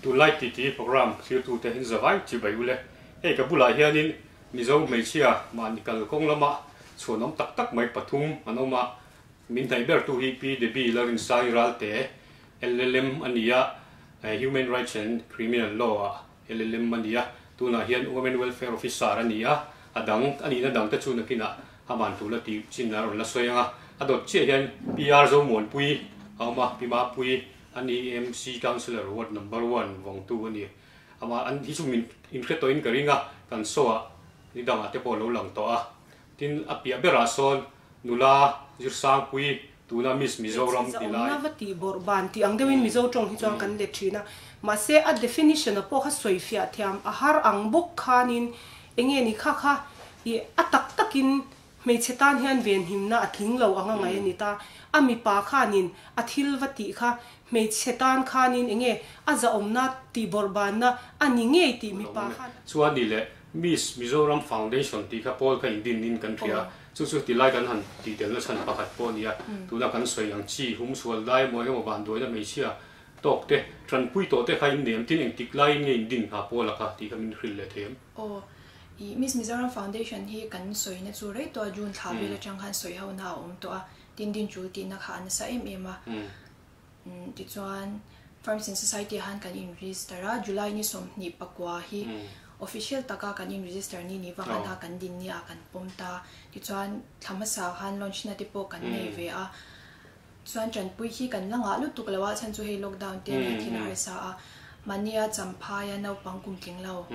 Tu Like Ti Ti programme thirtute in zavai ti bai ule. Hei ka bulah hianin Mizo hmeichhia mahni kal kawng lama chhuanawm tak tak mai pathum an awm a, min hnaih bertu hi Pi Debbie Larinsai Ralte, LLM, a ni a, Human Rights and Criminal Law a LLM a ni a, tunah hian Women Welfare Officer a ni a, a dang a nihna dangte chu nakinah a man tur la tih chinna a rawn la sawi ang a, a dawt chiah hian Pi Arzo Muanpui a awm a, Pi Mapui, A ni MC councillor ward number one vawng tu a ni. Amah an hi chu min in hre tawhin ka ring a, kan show ah ni dangah te pawh lo lang tawh a. Tin a piah ber ah sawn nula Zirsangpui tuna Miss Mizoram ti lai. Letchhia zawmna tih bawrh ban tih ang deuhin Mizo tawng hi chuan kan let thin a. Mahse a definition a pawh kha sawi fiah thiam a har ang bawk khanin enge ni kha kha ih a tak takin Hmeichhe tan hian venhimna a tling lo anga ngaih a ni ta. A mipa khanin a thil va tih kha, hmeichhe tan khanin enge a zahawmna tihbawrh banna a ni ngei tih mipa khan a. Chu a ni le, Miss Mizoram Foundation tih kha Paul kha indin in kan hria. Chu chu tilai kan han tihdelna chhan pakhat pawh a ni a. Tuna kan sawi ang chi, humsual dai maw engemaw ban duaina hmeichhia tawk te, tanpui tawh te kha in nem tin engtik laiin nge indin hna Paula kha tih kha min hrilh leh thei em? Aw. I Miss Mizoram Foundation hi kan sawina chu rei tawh a, June thla vel atang khan sawi hona a awm tawh a, tin din chul tihna kha a nasa em em a. Tichuan Farms in Society ah khan kan in register a, July ni sawmhnih pakua hi official taka kan in register ni ni vang a hna kan din ni ah kan pawm ta, tichuan thla hmasa ah khan launch na te pawh kan nei ve a. Chuan Chanpuii hi kan la ngah lutuk lo a, chhan chu hei lockdown te ania thil a harsa a, mahni a champhaia naupang kum tling lo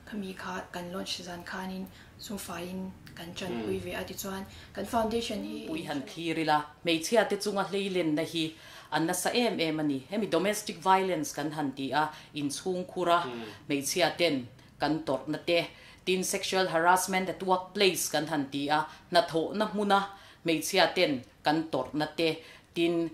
khami kha kan launch zan khanin chung faiin kan Chanpuii ve a ti chuan kan foundation hi Puii han thlir ila, hmeichhia te chunga hleilenna hi a nasa em em ani, hemi domestic violence kan han ti a, inchhungkhur a hmeichhia ten kan tawrhna te, tin sexual harassment at workplace kan han ti a, hnathawhna hmuna hmeichhia ten kan tawrhna te, tin,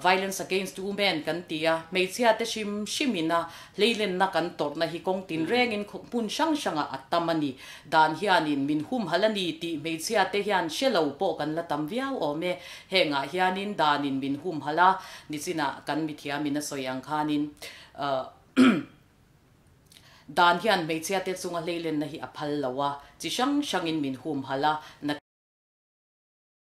violence against women kan ti a, hmeichhia te hrim hrimin a hleilenna kan tawrhna hi kawng tin rengin khaw hmun hrang hrangah a tam a ni. Dan hianin min humhalh a ni tih hmeichhia te hian hre lo pawh kan la tam viau awm e. Hengah hianin danin min humhalh a, nichinah kan mithiamin a sawi ang khanin dan hian hmeichhia te chunga hleilenna hi a phal lo a, chi hrang hrangin min humhalh a, na,